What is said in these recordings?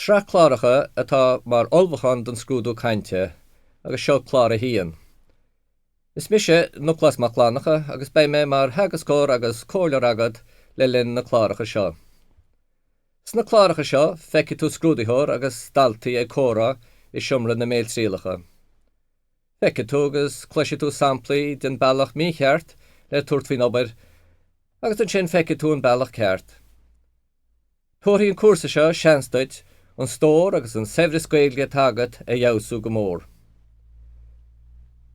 Sraith cláracha atá mar ullmhúchán don scrúdú cainte agus seo clár a haon. Is mise Noclás Mac Fhlannacha agus beidh mé mar theagascóir agus comhairleoir agat le linn na cláracha seo. Sna cláracha seo feicfidh tú scrúdaitheoir agus daltaí ag comhrá i seomra na mbéaltrialacha. Feicfidh tú agus cloisfidh tú samplaí den bealach mícheart le tabhairt faoin obair agus ansin feicfidh tú an bealach ceart. Tabharfaidh an cúrsa seo seans duit an stór agus an saibhreas Gaeilge atá agat a fheabhsú go mór.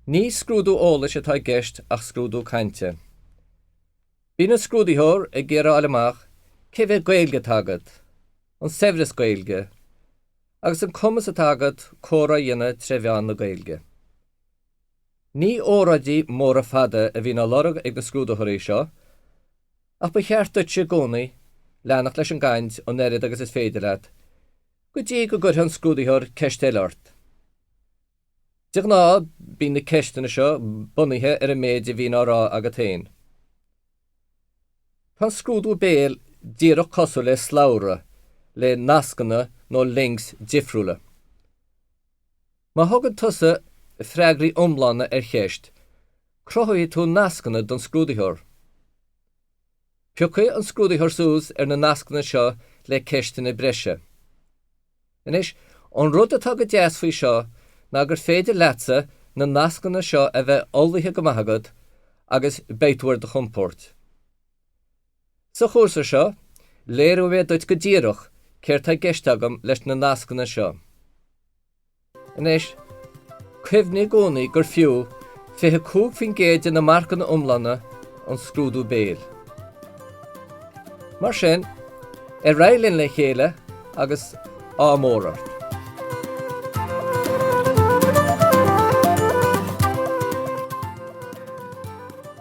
Ní scrúdú eolais atá i gceist ach scrúdú cainte. Bíonn an scrúdaitheoir ag iarraidh a fháil amach cé mhéad Gaeilge atá agat, an saibhreas Gaeilge, agus an cumas atá agat comhrá a dhéanamh tré mheán na Gaeilge. Ní óráidí móra fada a bhíonn á lorg ag na scrúdaitheoirí seo Ach ba cheart duitse i gcónaí leanacht leis an gcaint an oiread agus is féidir leat, go dtí go gcuirfidh an scrúdaitheoir ceist eile ort. De ghnáth, bíonn na ceisteanna seo bunaithe ar an méid a bhíonn á rá agat féin. Tá an scrúdú béil díreach cosúil le slabhra le nascanna nó links difriúla. Má thugann tusa freagraí iomlána ar cheist, cruthaíonn tú nascanna don scrúdaitheoir. Piocfaidh an scrúdaitheoir suas ar na nascanna seo le ceisteanna breise. Anois, an rud atá go deas faoi seo ná gur féidir leatsa na nascanna seo a bheith ullmhaithe go maith agat agus beidh tú ar do chompord. Sa chúrsa seo, léireoidh mé duit go díreach céard tá i gceist agam leis na nascanna seo. Anois, cuimhnigh i gcónaí gur fiú 25% de na marcanna iomlána an scrúdú béil. Mar sin, ar aghaidh linn le chéile agus ádh mór ort!